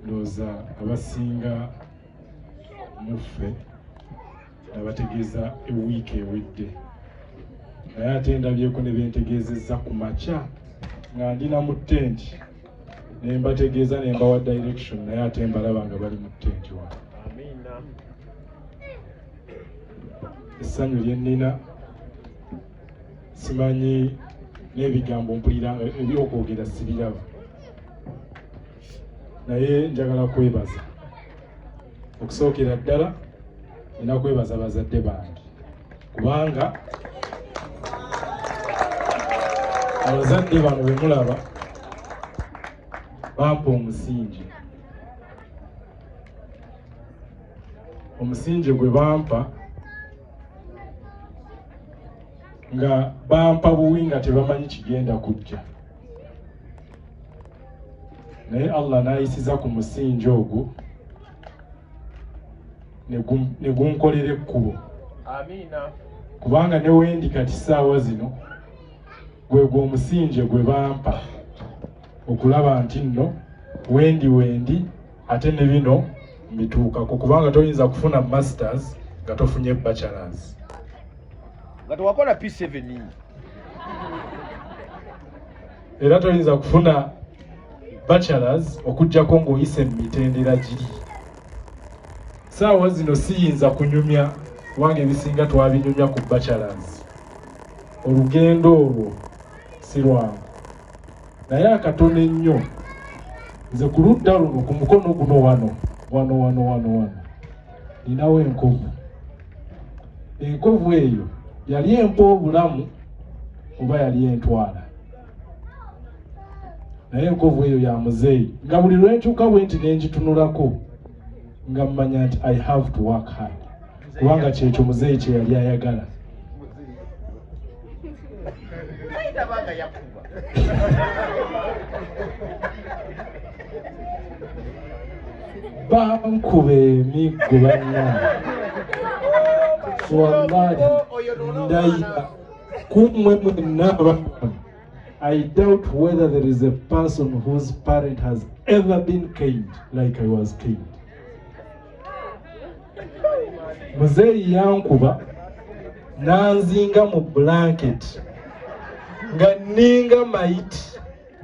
ndowooza abasinga muffe nabategeeza ewiiki ewedde naye ate ndabyeko ne bentegeezezza ku makya nga ndi na mu tenti ne mbategeeza ne mbawa direction naye ate mbalaba nga bali mu tenti wa essanyu lye nnina simanyi n'ebigambo mpulira ebyokwogera sibiraba naye njagala kwebaza okusookera ddala nina kwebaza bazadde bange kubanga abazadde bano bemulaba bampa omusingi omusingi gwe bampa nga bampa buwi nga tebamanyi kigenda kujja naye allah nayisiza ku musingi ogwo ne gunkolera ekkubo kubanga newendi kati saawa zino gwegwo omusingi gwe bampa okulaba nti nno wendi wendi ate ne bino mbituukako kubanga toyinza kufuna masters nga tofunye bachelors nga tewakola p7 era toyinza kufuna bachelors okujjako ng'oyise mu mitendera giri saawa zino siyinza kunyumya kubanga ebisinga twabinyumya ku bachelors olugendo olwo si lwangu naye akatono ennyo nze ku ludda luno ku mukono guno wano wano wano wano wano ninawo enkovu enkovu eyo yali empa obulamu oba yali entwala naye enkovu eyo ya muzeeyi nga buli lwenkyuka bwe nti nengitunulako nga mmanya nti i have to work hard kubanga kyekyo muzeeyi kyeyali ayagala bankuba emiggo banna wallahi ndayira kumwe mwenna abakon i doubt whether there is a person whose parent has ever been kind like i was kind muzeeyi yankuba nanzinga mu blanket nga ninga mayiti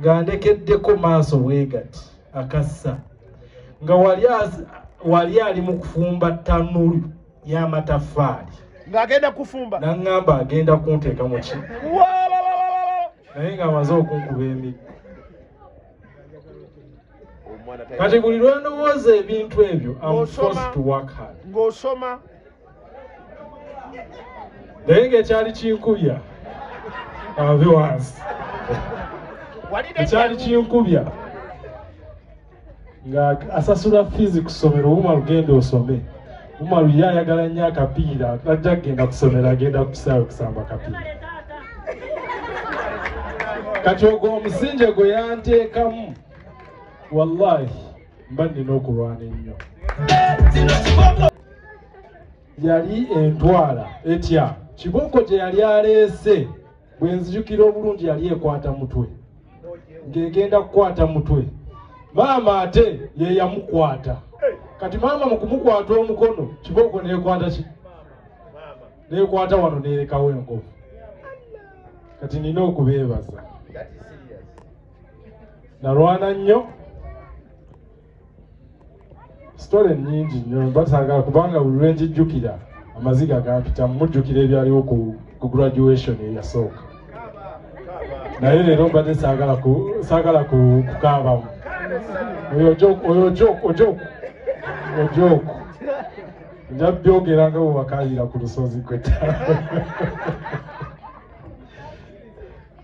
nga ndekeddeko maaso bwegati akassa nga wali ali mu kufumba tanulu y'amataffaali ng'agenda kufumba naŋŋamba agenda kunteeka mu ki naye ng'amaze okunkuba emiggo kati buli lwendowooza ebintu ebyo ng'osoma naye ngaekyali kinkubya ave wansi ekyali kinkubya nga asasula fiizi ku ssomero wuma lugenda osome Umaru ye ayagala nnyo akapiira ajja kugenda kusomero agenda kusaawe kusamba kapiira kati ogwo omusinje gwe yanteekamu wallahi mba nnina okulwana ennyo yali entwala etya kibooko gye yali aleese bwe nzijukira obulungi yali ekwata mutwe ng'egenda kukwata mutwe maama ate ye yamukwata kati maama mu kumukwata omukono kibooko neekwata ki neekwata wano neerekawo enkovu kati nina okubeebaza nalwana nnyo sitole nnyingi nnyo mba saagala kubanga buli lwe ngijjukira amaziga gampita mujjukira ebyaliwo ku graduation eyasooka naye leero mbadde saagala kukaabamu oyo ojoku ojoku ojoku nja byogera nga bwewakayira ku lusozi kweta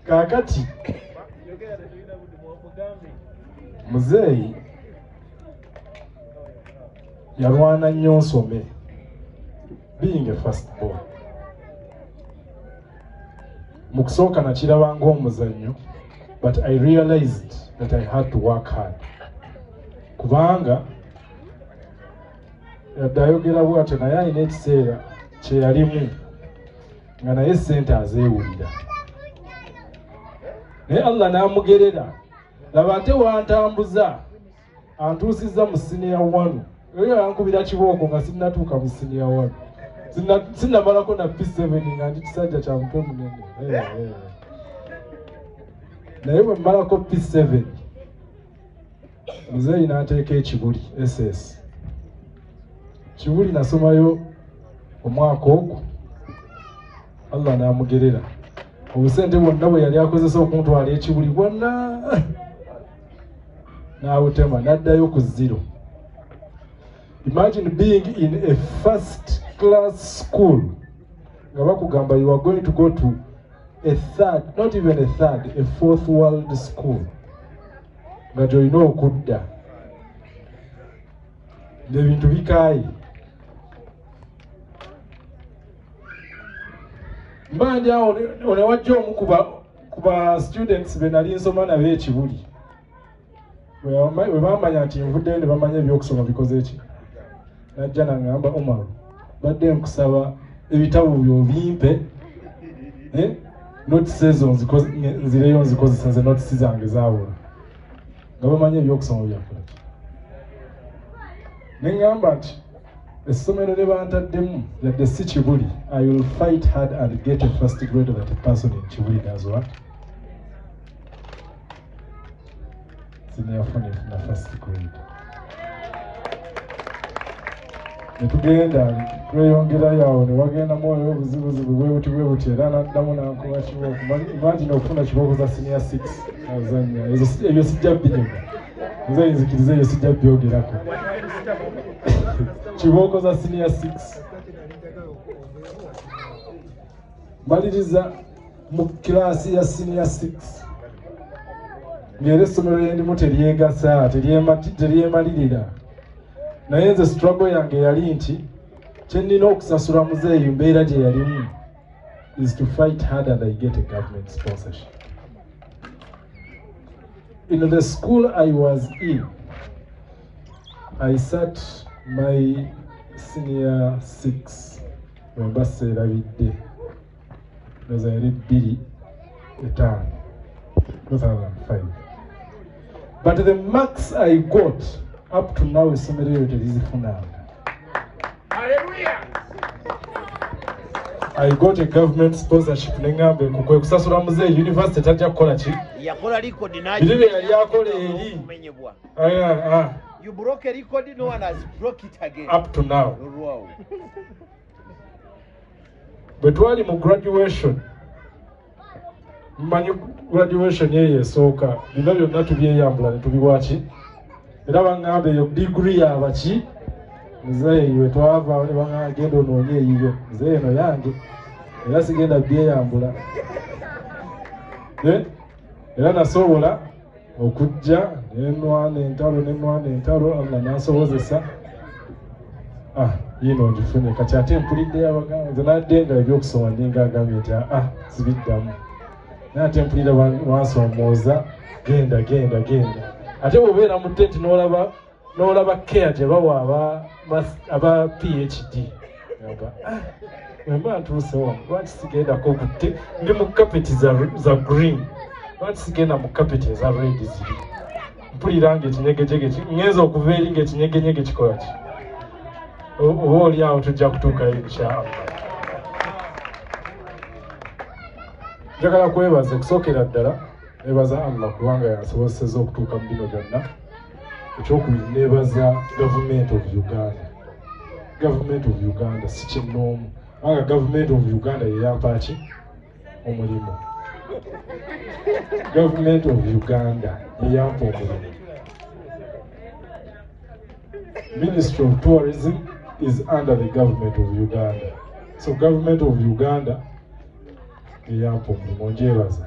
kaakati muzeeyi yalwana nnyo nsome being a first born mu kusooka nakiraba ng'omuzannyo but i realized that i had to work hard kubanga yadde ayogera bwatyo naye alina ekiseera kyeyalimu nga naye sente azeewulira naye allah n'amugerera laba ate wantambuza antuusizza mu siniya wanu oyo yankubira kibooko nga sinnatuuka mu siniya wanu sinnamalako na p7 nga ndi kisajja kya mutwe munene eh, eh. naye bwe mmalako p7 muzeeyi n'ateeka ekibuli ss kibuli nasomayo omwaka ogwo allah n'amugerera obusente bwonna bwe yali akozesa okuntwala ekibuli bwonna n'abutema n'addayo ku ziro imagine being in a first class school nga bakugamba you are going to go to a third not even a third a fourth world school nga gyolina okudda ngaebintu bikaayi mbanja onewajja omu ku ba students be nali nsoma nabe ekibuli webamanya nti nvuddeyo ne bamanya ebyokusoma bikoze ki najja nangamba omar badde nkusaba ebitabo byo bimpe eh? notisi ezo nzireyo nzikozesa nze notisi zange zawola nga bamanyi ebyokusoma byakola neŋamba nti essomero lye bantaddemu yadde si kibuli i will fight hard and get a first grade that a person in kibuli does what sineyafuna efuna first grade netugenda tweyongerayo awo newagendamu oyo obuzibuzibu bwebuti bwebuti era naddamu nankuba kibooko imagine okufuna kibooko za senior six azanya ebyo sijja binyuma nze nzikiriza ebyo sijja byogerako kibooko za senior six maliriza mu kiraasi ya siniya 6 ngaera essomero lyendimu teryegasa teryemalirira naye nze struggle yange yali nti kyenina okusasula muzeeyi mbeera gye yalimu is to fight hard and i get a government sponsorship in the school i was in i sat my senior 6 wemba seerabidde eza yali bbiri etaano 2005 but the marks i got up to now essomero eyo terizifunanga I got a government sponsorship nengambe kukwe kusasula mzee university tajja kukola ki yakola record nayo bilile yali akola eri menyebwa aya ah you broke a record no one has broke it again up to now bwe twali mu graduation mmanyi graduation eyo esooka bino byonna tubyeyambula ne tubiwaki era baŋŋamba eyo digiri yabaki muzeeyi we twava ne bagenda onoonye eyiyo muzeeyi eno yange era sigenda byeyambula eh? era nasobola okujja nenwana entalo nenwana entalo allah nasobozesa ah yino ngifunye kati ate mpulidde yabagamba nze nadde nga ebyokusoma ninga agambye nti ah, ah sibiddamu naye ate mpulira wansomooza genda genda genda ate bwobeera mu tenti nolaba n'olaba care gye bawa aba phd aga ah, wemba ntuuse wano lwaki sigendako kutte ndi mu kapeti za green lwaki sigenda mu kapeti eza red ziri mpulira nga ekinyegejege ngenza okuva eri nga ekinyegenyege kikola ki oba oli awo tujja kutuukayo inshaallah njagala kwebaza okusookera ddala nebaza allah kubanga yasobozeseza okutuuka mu bino byonna ekyokubiri nebaza gavumenti of uganda gavumenti of uganda si kinnoomu kubanga gavumenti of uganda yeyampaaki omulimu gavumenti of uganda yeyampa omulimu ministry of tourism is under the government of uganda so government of uganda eyampa omulimu njebaza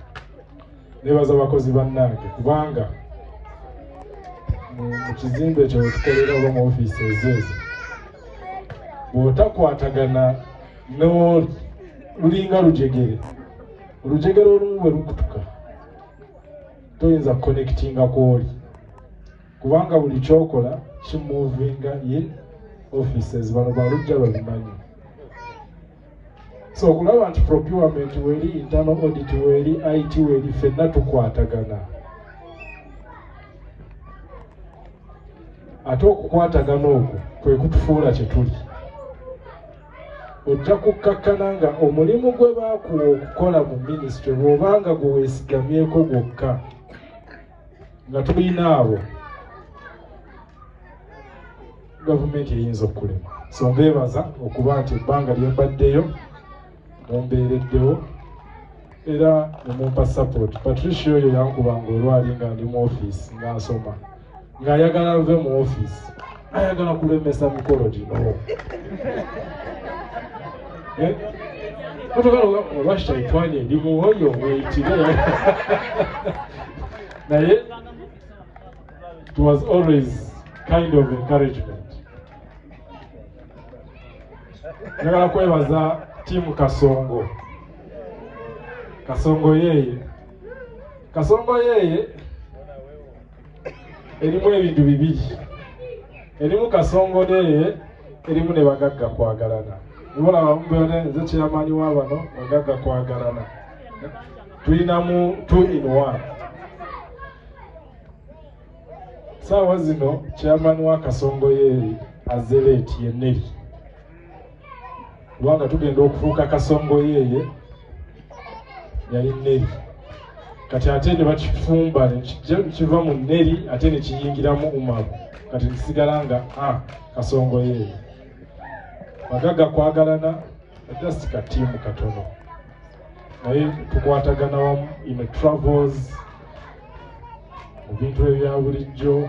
nebaza abakozi bannange kubanga mu kizimbe ekyo wetukolera oba mu ofiisi ezeezo bwotakwatagana lulinga lujegere olujegere olumu bwe lukutuka toyinza kukonekitinga kwoli kubanga buli kyokola kimuvinga in offices bano balujja babimanyi so okulaba nti procurement weri internal audit weri it weri fenna tukwatagana ate okukwatagana okwo kwe kutufuula kye tuli ojja kukkakkana nga omulimu gwe baakuwa okukola mu minisitule bw'oba nga gwe weesigamyeko gwokka nga tulina abo gavumenti eyinza okukulema so mbeebaza okuba nti ebbanga lye mbaddeyo mumbeereddewo era ne mumpa sapoti patricia oyo yankubanga olwali nga ndi mu ofiisi nga nsoma ng'ayagala nve mu ofiisi ayagala kulemesa mikolo gino eh? otogala olwa shaitwani eri muwoyo mweyitire naye It was always kind of encouragement. Njagala kwebaza tiimu Kasongo. Kasongo yeye. Kasongo yeye erimu ebintu bibiri. Erimu Kasongo yeye erimu ne bagagga kwagalana. Nibola bamubone nze chairman wa bano bagagga kwagalana. Tulinamu two in one. saawa zino chairman wa kasongo yeeri azeleeti yeneri kubanga tugenda okufuuka kasongo yeeye yali neri kati ate ne bakifumba kiva mu neri ate ne kiyingiramu umaru kati nkisigala nga a ah, kasongo yeeye bagaga kwagalana just katiimu katono naye tukwatagana wamu in travels mu bintu ebya bulijjo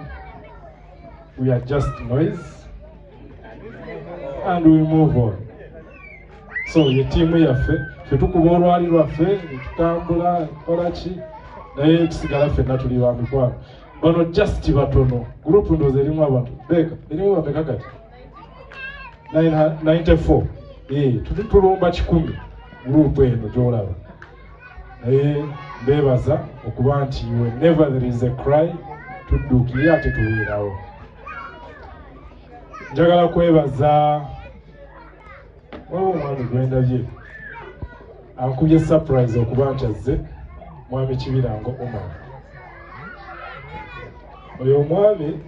we are just noise and we move on so ye tiimu yaffe fe tukuba olwali lwaffe netutambula kola ki naye tusigala ffenna tuli ba mikwano bano just batono gurupu ndoozi erimu abantu beeka erimu bameka kati 94 eh, tuli tulumba kikumi gurupu eno gyolaba naye mbeebaza okuba nti whenever there is a cry tudduukire ate tubeerawo njagala kwebaza waba omwami gwendabye ankubye surprise okuba nti azze mwami kibirango omar oyo omwami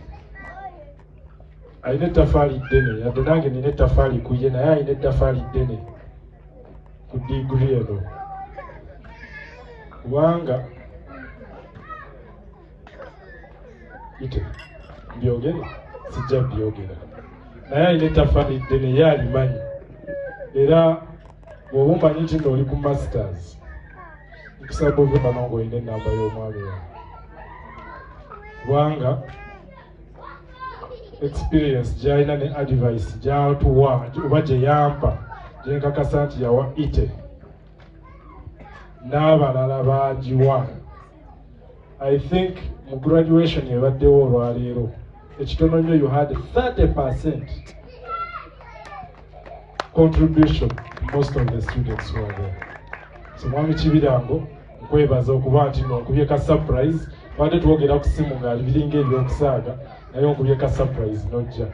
alina ettafaali ddene yadde nange nina ettafaali ku ye naye alina ettafaali ddene ku digiri eno kubanga ite byogere sijja byogera naye alina ettafaali ddene ye alimanyi era bwoba omanyi nti nooli ku masters nkusaba ove bano ngaolina enamba y'omwami wawe kubanga experience gyalina ne advice gyatuwa oba gye yampa gye nkakasa nti yawa ite n'abalala baagiwa i think mu graduation ebaddewo olwaleero ekitono nnyo you had 30 percent contribution most of the students were there so mwami kibirango nkwebaza okuba nti no nkubye ka surprise twade twogera ku simu ngaali biringa ebyokusaaga naye onkubye ka surprise nojja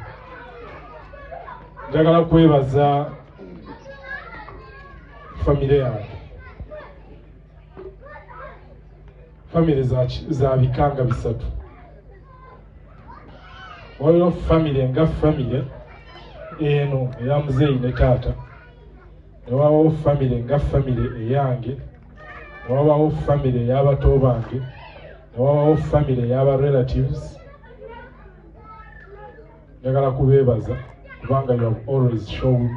njagala kwebaza famire yange famire za bikanga bisatu waliwo famire nga famire eno eya muzeeyi ne taata ne wabawo famire nga famire eyange ne wabawo famire ey'abato bange ne wabawo famire ey'aba relatives njagala kubeebaza kubanga you have always shown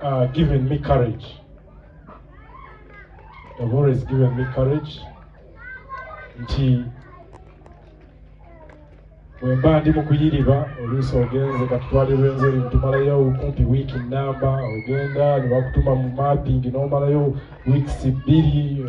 uh, given me courage you have always given me courage nti bwe mba ndi mu kuyiriba oluusi ogenze katutwalirwa enzeri tumalayo kumpi wiiki nnamba ogenda ne bakutuma mu mapping n'omalayo wiikisi bbiri